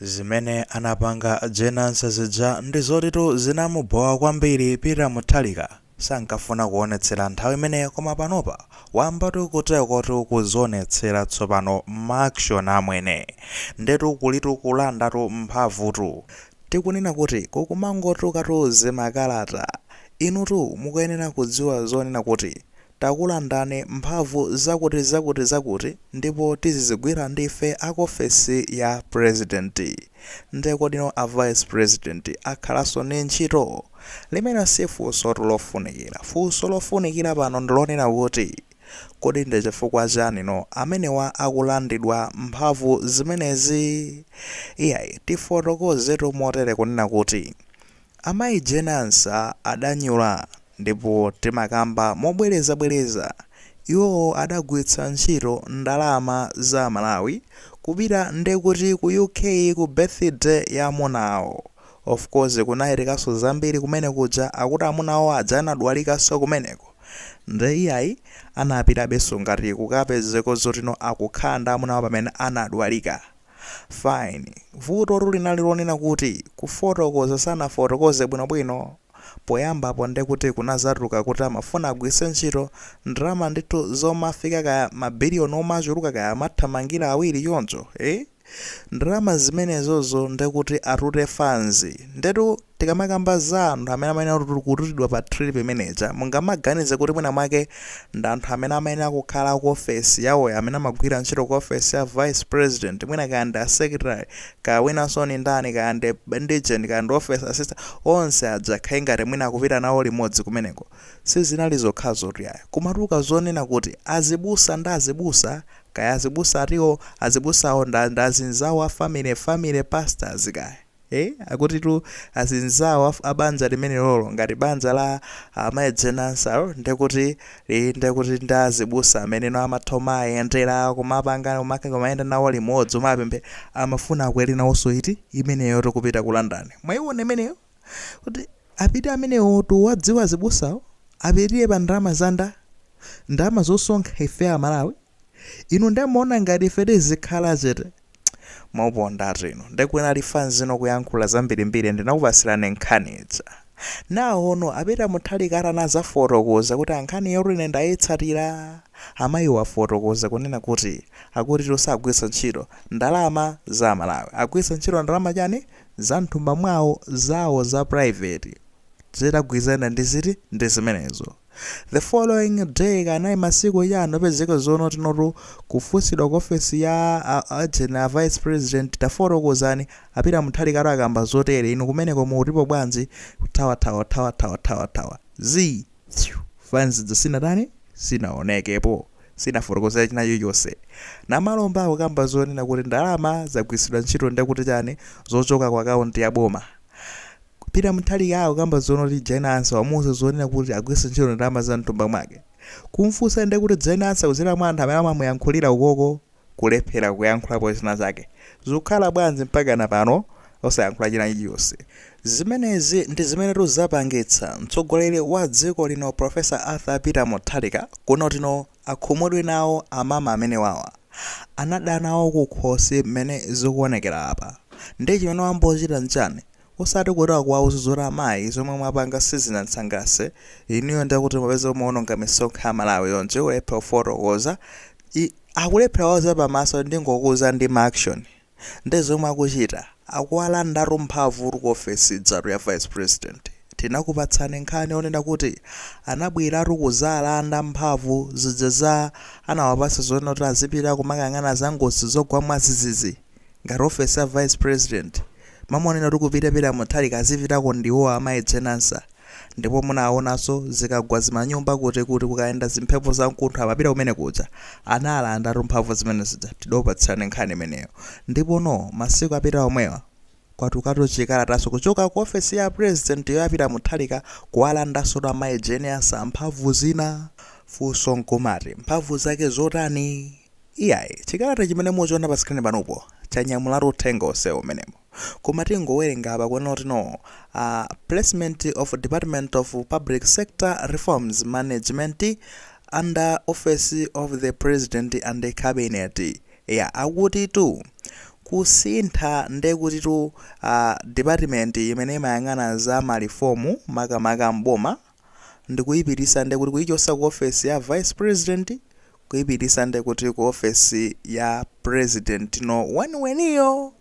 Zimene anapanga Jane Ansah zija ndizotitu zinamubowa kwambiri Peter Mutharika sankafuna kuonetsera nthawi imeneyo koma panopa wayambatu kuterekotu kuzionetsera tsopano ma action amwene, ndetu kulitu kulandatu mphamvutu. Tikunena kuti kukumangotukatu zimakalata. Inutu mukuyenera kudziwa zonena kuti takulandani mphamvu zakuti zakuti zakuti ndipo tizizigwira ndife akuofesi ya president. nde kodi no a vice president akhalanso ndi ntchito? limene si funsotu lofunikira. funso lofunikira pano ndilonena kuti kodi ndichifukwa chani no amenewa akulandidwa mphamvu zimenezi? iyayi tifotokozetu motere kunena kuti Amayi Jane Ansah adanyula ndipo timakamba mobwerezabwereza iwowo adagwiritsa ntchito ndalama za amalawi kupita nde kuti ku UK ku birthday ya amuna awo. Of course kunachitikanso zambiri kumene kuja akuti amuna awo aja anadwalikanso kumeneko nde iyayi anapitabenso ngati kukapezeka zoti no akukhala ndi amuna awo pamene anadwalika. Fine. Vutotu linali lonena kuti kufotokoza sanafotokoze bwinobwino poyambapo ndekuti kunazatuluka kuti amafuna agwiritse ntchito ndalama ndithu zomafika kaya ma billion omachuluka kaya amathamangira awiri choncho, eh? Ndalama zimenezozo ndekuti atute fans. Ndetu. Tikamakamba za anthu amene amayenera kututidwa pa trip imeneija, mungamaganize kuti mwinamwake ndi anthu amene amayenera kukhala ku ofesi yawoyo, amene amagwira ntchito ku ofesi ya vice president, mwina kaya ndi a secretary, kaya winanso ndi ndani, kaya ndi intelligence, kaya ndi office assistant, onse aja akhale ngati mwina akupita nawo limodzi kumeneko. Sizinali zokhazotu iyayi. Kumatuluka zonena kuti azibusa ndi azibusa, kaya azibusa atiwo, azibusawo ndi ndi azinzawo a family, family pastors kaya. ee akutitu azinzawo af abanja limenelolo, ngati banja la amayi Jane Ansah ndekuti lili ndekuti ndi azibusa amene no amatha kumaayendela kumapanga kumaka kumayenda nawo limodzi kumapemphera amafuna akwele nawonso trip imeneyotu kupita ku London mwayiwona imeneyo kuti apite amenewotu awa dziwa azibusawo apitile pa ndalama za nda ndalama zosonkha ife amalawi Inu nde mumaona ngati ife tizikhala chete? Maponda atu inu. Nde kunali fans no kuyankhula zambirimbiri ndinakupatsirani nkhani ija. Nawo no a Peter Mutharika atanazafotokoza kuti a nkhaniyotu ine ndaitsatira. Amayiwo afotokoza kunena kuti akutitu sagwiritsa ntchito ndalama za Amalawi. Agwiritsa ntchito ndalama chani? Za mthumba mwawo, zawo za private. Zikugwirizana ndi ziti? Ndi zimenezo. The following day kanayi masikuwa anapezeka zono tinotu kufunsidwa ku ofesi ya a Jane a vice president tafotokozani a Peter Mutharikatu akamba zotere inu kumeneko mukutipo bwanji kuthawathawathawathawathawa zii phew fanzi ija sinatani sinaonekepo sinafotokozere china chilichonse nomalomba akukamba zonena kuti ndalama zagwiritsidwa ntchito ndekuti chani zochoka ku account ya boma Peter Mutharika akukamba zonena kuti Jane Ansah wamuuza zonena kuti agwiritse ntchito ndalama za mthumba mwake? Kumfunsa nde kuti Jane Ansah kudzera mwa anthu amene amamuyankhulira ukoko kulephera kuyankhulapo zina zake. Zikukhala bwanji mpakana pano osayankhula china chilichonse? Zimenezi ndi zimenetu zapangitsa mtsogoleri wa dziko lino Prof. Arthur Peter Mutharika kunena kuti akhumudwe nawo amama amenewawa. Anada nawo kukhosi mmene zikuonekera apa. Nde chimene wambochita nchani? Osati kuti akuwauza zoti amayi zomwe mwapanga sizinandisangalatse ineyo ndiye kuti mupeze mumaononga misonkho ya Malawi yonse kulephera kufotokoza i akulephera kuwauza pamaso ndingokuuza ndi ma action nde zomwe akuchita akuwalandatu mphamvutu ku office ijatu ya vice president tinakupatsani nkhani yonena kuti anabweratu kuzalanda mphamvu zija anawapatsa zonena kuti azipita kumakayang'ana za ngozi zogwa mwadzidzidzi ngati office ya vice president mmalo monena kuti kupita Peter Mutharika azipitako ndi iwowo amayi Jane Ansah ndipo munawaonanso zikagwa zimanyumba kuti kuti kukayenda zimphepo zamkuntho amapita kumene kuja analandatu mphamvu zimene zija tidokupatsirani nkhani imeneyo ndipo no masiku apita omwewa kwatukatu chikalataso kuchoka ku office ya president yo ya Peter Mutharika kuwalandansotu amayi Jane Ansah mphamvu zina funso nkumati mphamvu zake zotani? Iyayi, chikalata chimene muchiona pa screen panopo chanyamulatu uthenga onsewo mmenemo. Koma tingowerenga apa kunena kuti placement of Department of Public Sector Reforms Management under Office of the President and Cabinet. Eya, akutitu kusintha nde kutitu department imene imayang'ana za mareform makamaka m'boma. ndikuipitisa ndekuti kuichosa ku office ya vice president kuipitisa ndekuti ku office ya president number one weniweniyo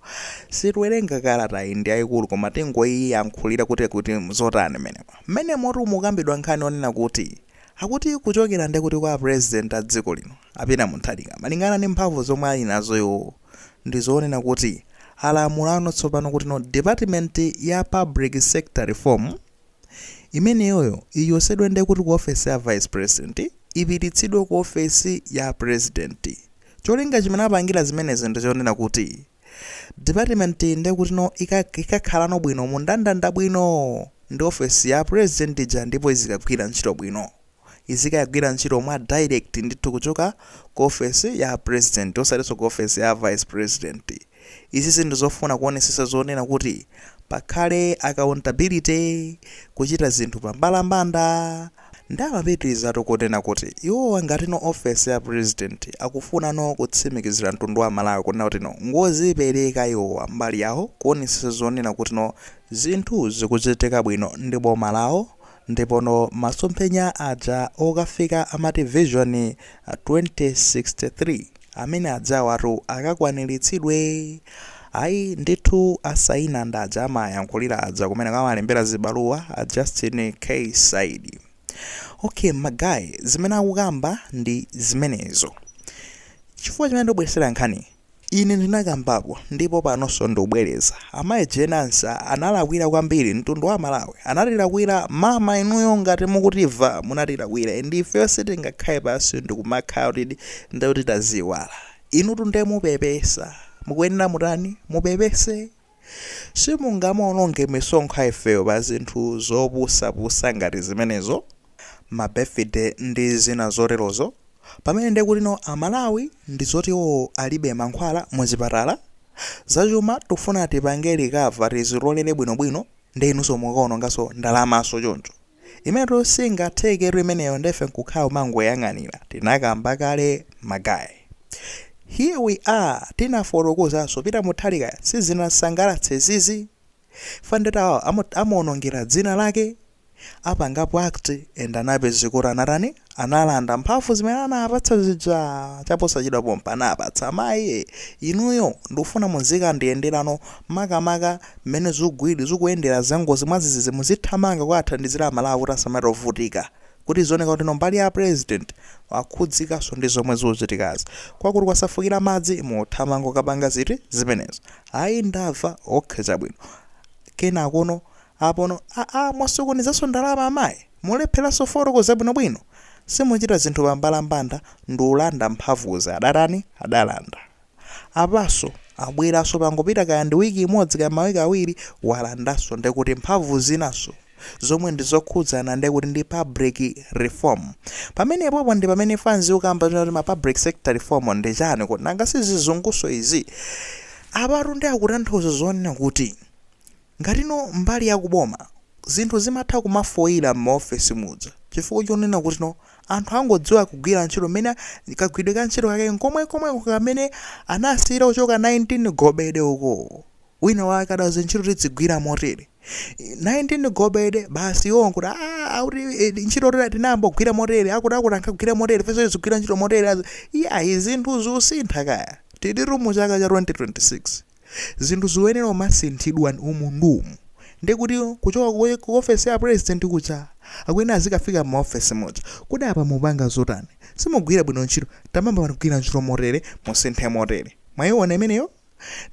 sitiwerenga kalatayi ndi yaikulu koma tingoiyankhulira kuti kuti mzotani mmenemo mmenemotu mukambidwa nkhani onena kuti akuti kuchokera ndekuti kwa president a dziko lino a Peter Mutharika malingana ndi mphamvu zomwe ali nazo iwowo ndizonena kuti alamulano tsopano kuti no department ya public sector reform Imeneyoyo ichosedwe nde kut ku office ya vice president ipititsidwe ku office ya president. Cholinga chimene apangira zimenezi ndichonena kuti department nde kutino ikakhalano bwino mundandanda bwino ndi office ya president ija ndipo izikagwira ntchito bwino. izikagwira ntchito mwa direct ndithu kuchoka ku office ya president osatiso ku office ya vice president. Izizi ndizofuna kuonesesa zonena kuti pakhale accountability, kuchita zinthu pa mbalambanda. Nde amapitilizatu kunena kuti iwowa ngatino office ya president akufunano kutsimikizila mtundu wa Malawi kunena kutino ngozipeleka iwowa mbali yawo kuonesesa zonena kutino zinthu zikuchitika bwino ndi boma lawo Ndipono masomphenya aja okafika amati vision 2063 amene ajawatu akakwanilitsidwe? Ayi ndithu asayina ndi uja amayankhulira aja kumene amalembera zibaluwa a Justin K Saidi. Ok ma guy zimene akukamba ndi zimenezo chifukwa chimene ndikubweresera nkhaniyi Ine ndinakambapo ndipo panonso ndikubwereza. Amayi Jane Ansah analakwira kwambiri mtundu wa Malawi. Anatilakwira mama inuyo ngati mukutimva munatilakwira and ifeyo sitingakhale pansi ndikumakhala kuti ndekuti taziiwala. Inutu nde mupepesa. Mukuyenera mutani? Mupepese? Simungamaononge misonkho ya ifeyo pa zinthu zopusapusa ngati zimenezo, ma birthday ndi zina zoterozo, pamene ndiye kutino a Malawi ndi zoti iwowo alibe mankhwala mu zipatala? Za chuma tikufuna tipange recover tizitolere bwinobwino ndi inunso mukaononganso ndalamaso choncho. Imenetu singatheketu imeneyo nde ife nkukhala kumangoyang'anira. Tinakamba kale ma guy. Here we are tinafotokozanso Peter Mutharika sizinamsangalatse izizi. Chifukwa nde tawawa amuonongera dzina lake. Apangapo act and anapezeka kuti anatani analanda mphamvu zimene anawapatsa zija chaposachedwa pompa anawapatsa. Mayi ee inuyo ndikufuna muzikandiyenderano makamaka Mmene zugwidi zukuyendera zangozi mwazizizi muzithamanga kukawathandizira amalawi kuti asamatovutika kuti zioneka kuti no mbali ya president akhudzikaso ndi zomwe zuchitikazi kwakuti kwasefukira madzi muthamanga kukapanga ziti zimenezo ayi ndamva ok chabwino kenakono apono aa mwasokonezaso ndalama amayi mulephelaso kufotokoza bwino bwino simuchita zinthu pambalambanda ndi ulanda mphamvuzi adatani adalanda apaso abweraso pangopita kaya ndi week imodzi kaya mawiki awiri walandaso ndekuti mphamvu zinaso zomwe ndizokhudzana ndekuti ndi public reform pamenepopo ndipamene fanzi ukamba kuti ma public sector reform ndi chani kodi nanga sizizunguso izi apatu ndi akutanthauza zonena kuti Ngatino mbali ya ku boma zinthu zimatha kumafoila mma office muja chifukwa chonena kutino anthu angodziwa kugwira ntchito mmene kagwidwe ka ntchito kake nkomwekomweko kamene anasiyira kuchoka 19 gobede uko wina wake adati ntchito tidzigwira motere 19 gobede basi iwowo nkuti aah akuti ntchito tinayambogwira motere akuti akuti ankagwira motere ifenso tizigwira ntchito motere iyayi zinthu ziusintha kaya tilitu mu chaka cha 2026. Zinthu zikuyenera kumasinthidwa umu ndi umu nde kuti kuchoka ku ku ofesi ya president kuja akuyenera azikafika mma ofesi muja. Kodi apa mupanga zotani? Simukugwira bwino ntchito. Tamayambani kugwira ntchito motere musinthe motere. Mwaiona imeneyo?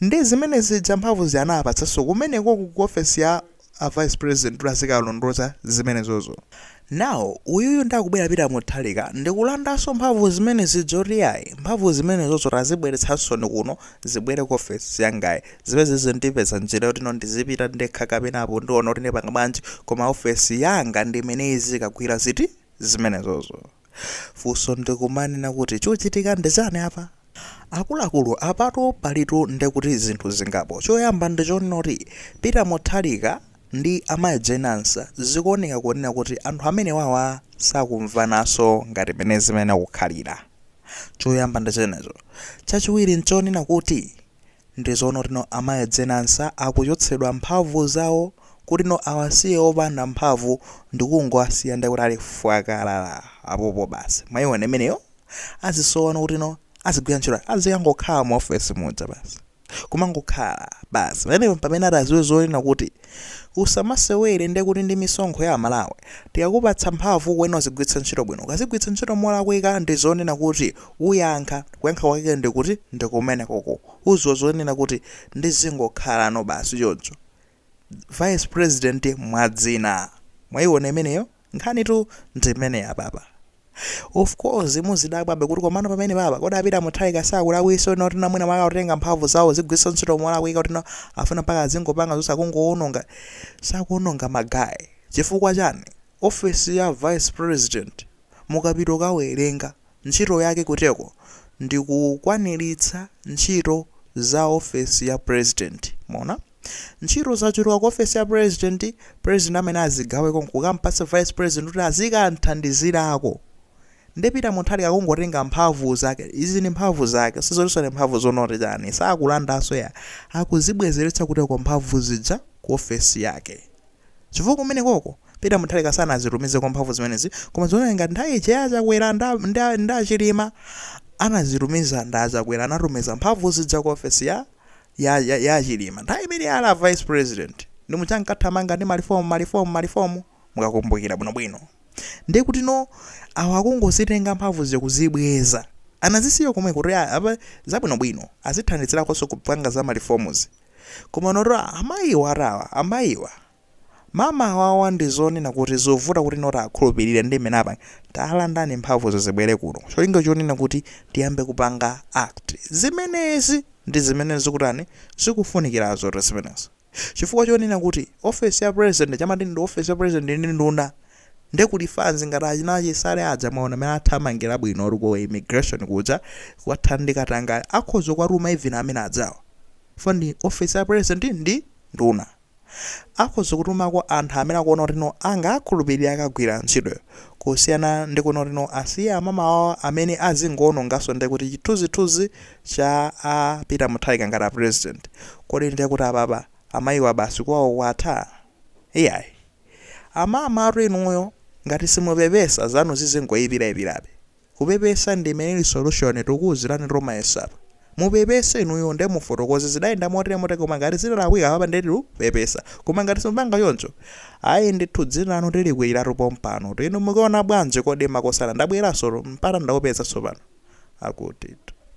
Ndiye zimene zija mphamvu zija anawapatsanso kumenekoko ku ofesi ya. a vice president kuti azikalondoloza zimenezozo. Now uyuyu nde akubwera Peter Mutharika ndikulandaso mphamvu zimene zija zoti iyayi mphamvu zimenezozo tazibweretsasoni kuno zibwere ku ofesi yangayi zimene ndizipeza njira yotino ndizipita ndekha kapena apo ndiona kuti ndipanga bwanji koma ofesi yanga ndi imene izikagwira ziti? zimenezozo. Funso ndi kumanena kuti chochitika ndi chani apa? Akuluakulu apatu palitu nde kuti zinthu zingapo. Choyamba ndi chonena kuti Peter Mutharika ndi a Mai Jane Ansah zikuoneka kunena kuti anthu amenewawa sakumvananso ngati mene zimayenera kukhalira. Choyamba ndi chimenecho. Chachiwiri nchonena kuti Ndizoona kuti no amai Jane Ansah akuchotsedwa mphamvu zawo kuti no awasiye opanda mphamvu ndikungowasiya ndekuti ali fwakalala apopo basi mwaiona imeneyo azisowa no kuti no azigwira ntchito azikangokhala mu office muja basi kumangokhala basi pamenepo mpamene atadziwe zonena kuti usamasewere ndekuti ndi misonkho ya amalawi tikakupatsa mphamvu ukuyenera uzigwiritsa ntchito bwino ukazigwiritsa ntchito molakwika ndizonena kuti Uyankha, kuyankha kwake ndi kuti ndi kumenekoko. Udziwa zonena kuti ndizingokhalano basi choncho. Vice president mwadzina. Mwaiona imeneyo? Nkhanitu ndi imeneyi apapa. Of course muzidabwabe kuti komano pamenepapa kodi a Peter Mutharika sakulakwisa zonena kuti mwina mwake akutenga mphamvu zawo kuzigwiritsa ntchito molakwika kuti afuna mpaka azingopanga zonse akungoononga. Sakuononga ma guy. Chifukwa chani? Office ya vice president mukapita ukawerenga. Ntchito yake kuteko ndi kukwaniritsa ntchito za ofesi ya president. Mwaona? Ntchito zachuluka ku ofesi ya president, president amayenera azigaweko nkukampatsa vice president kuti azikamthandizirako. Nde Peter Mutharika akungotenga mphamvu zake. Izi ndi mphamvu zake. Sizotinso ndi mphamvu zonoti chani. Sakulandanso ya. Akuzibwezeretsa kuteko mphamvu zija ku ofesi yake. Chifukwa kumenekoko Peter Mutharika sanazitumizeko mphamvu zimenezi koma zikuoneka ngati nthawi ija ya Chakwera nda, nda, nda Chilima anazitumiza nda Chakwera anatumiza mphamvu zija ku ofesi ya ya, ya, ya Chilima nthawi imene ali a vice president ndi muja ankathamanga ndi malifomu malifomu malifomu mukakumbukira bwinobwino ndiye kuti no awa akungozitenga mphamvu zija akuzibweza anazisiya komwe kuti apa zabwinobwino azithandizirakonso kupanga za malifomuzi Komanotu amayiwa, amayiwa mama awawa ndi zonena kuti zovuta kuti no tiwakhulupirire ndi mmene apa talandani mphamvuzi zibwere kuno cholinga chonena kuti tiyambe kupanga act zimenezi ndi zimene zikutani zikufunikirazotu zimenezi chifukwa chonena kuti ofesi ya president chamati ndi ofesi ya president ndi nduna Nde kuti fanzi ngati achina Chisale aja mwaona mene athamangila bwinotu uko ku immigration kuja kukathana ndi katangale akhoza kuwatuma even amene aja chifukwa ndi office ya president ndi nduna akhoza kutumako anthu amene akuona kuti no angawakhulupilire akagwila ntchitoyo kusiyana ndi kunena kuti no asiye amama awo amene azingoonongaso nde kuti chithunzithunzi cha a peter mutharika ngati a president kodi nde kuti apapa amayiwa basi kwawo kwatha? Iyayi. Amamatu inuyo ngati simupepesa zanu zizingoipira ipirabe. Kupepesa ndi imene ili solution tikuuziranitu mayi Ansah apa. Mupepese inuyo nde mufotokoze zidayenda motere motere koma ngati zidalakwika apapa nde tikupepesa. Koma ngati simupanga choncho ayi ndithu dzina lanu tilikwiliratu pompanotu inu mukuona bwanji kodi makosana ndabweraso tu mpata ndaupeza tsopano. Akutitu.